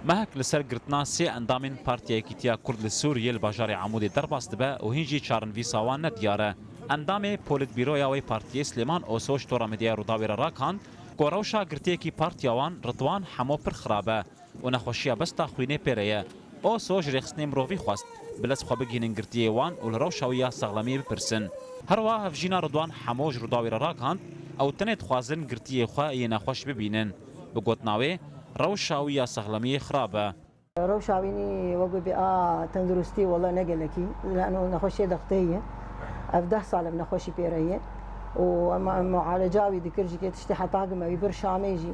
Mehek li ser girtina sê endamên Partiya Yekîtiya Kurd li Sûriyê li bajarê Amûdê derbas dibe û hîn jî çarinvîsa wan ne diyar e. Endamê polîtbîroya wê partiyê Silêman Osoç tora medyaya Rûdawê re rakand ku rewşa girtiyekî partiya wan Ritwan Hemo pir xirab e û nexweşiya besta xwînê pê re ye. Oso ji rêxistinên mirovî xwest bi lez xwe bigihînin girtiyê wan û li rewşa wî ya saxlemiyê bipirsin. Herwiha hevjîna Ridwan Hemo ji Rûdawê re rakand, ew tenê dixwazin girtiyê xwe yê nexweş bibînin. Bi gotina wê, rewşa wî ya saxlemiyê xirab e. Rewşa wî wek wê bê a tenduristî wele ne gelekî, lano nexweşiyê dexteyî ye. Ev deh sal e bi nexweşî pêre ye û em mualeca wî dikir ji kê tiştê heta gime wî bir şamê jî.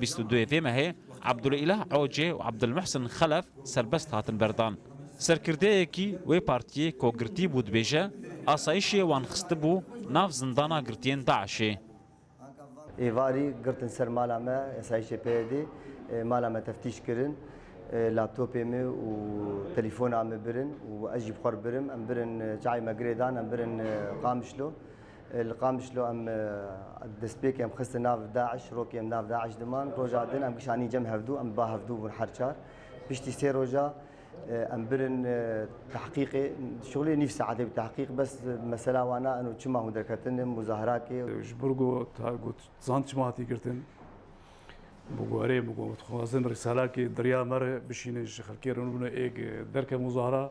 Bîst û duyê vê mehê Abdulîlah Ocê û Abdulmuhsin Xelef serbest hatin berdan. Serkirdeyekî wê partiyê ku girtî bû dibêje, asayîşê wan xistibû nav zindana girtiyên DAIŞ'ê. Êvarî girtin ser mala me, asayîşê PYD'ê mala me teftîş kirin, laptopê min û telefona min birin û ez jî bi xwe re birim. Em birin çavê me girê dan, em birin Qamişlo. Li Qamişlo em destpêkê em xistin nav DAIŞ, rokê em nav DAIŞ diman. Roja din em kişanîn cem hevdû, em bi ba hevdû bûn her çar. Piştî sê roja em birin tahqîqê, şixulê nîv saetê bi tahqîq bes mesela wana eno çima hûn derketin muzahirakê. Ji bo ku got zand çima hatî girtin, bi guherê bi ku dixwazin rîsalakê derya me re bişînin ji xelkê re bûne êk derke muzahira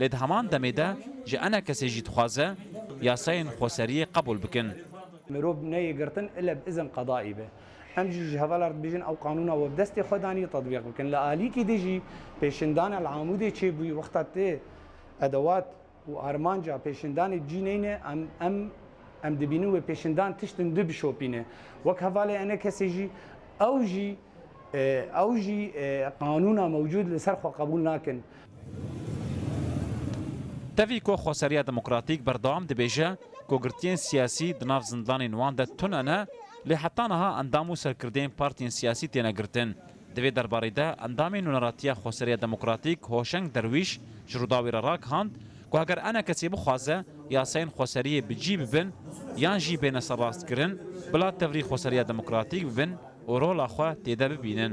Lê di heman demê de ji ene kesê jî dixwaze yasayên xweseriyê qebûl bikin. Mirov neyê girtin ile bi izin qedaî be. Em jî ji hevala re dibêjin ew qanûna we bi destê xwe danî tetbîq bikin. Li alîkî de jî pêşindana li Amûdê çêbûyî wexta tê edewat û armanca pêşindanê cî neyne em em em dibînin wê pêşindan tişt in du bişopîne. Wek hevalê ene kesê jî ew jî. Ew jî qanûna mewcûd li ser xwe qebûl nakin. Tevî ku Xweseriya Demokratîk berdewam dibêje ku girtiyên siyasî di nav zindanên wan de tune ne, lê heta niha endam û serkirdeyên partiyên siyasî têne girtin. Di vê derbarî de endamê Nûneratiya Xweseriya Demokratîk Hoşeng Derwîş ji Rûdawê re rakihand, ku eger ene kesê bixwaze yasayên xweseriyê bi cî bibin yan jî bêne serrastkirin, bila tevlî xweseriya demokratîk bibin û rola xwe têde bibînin.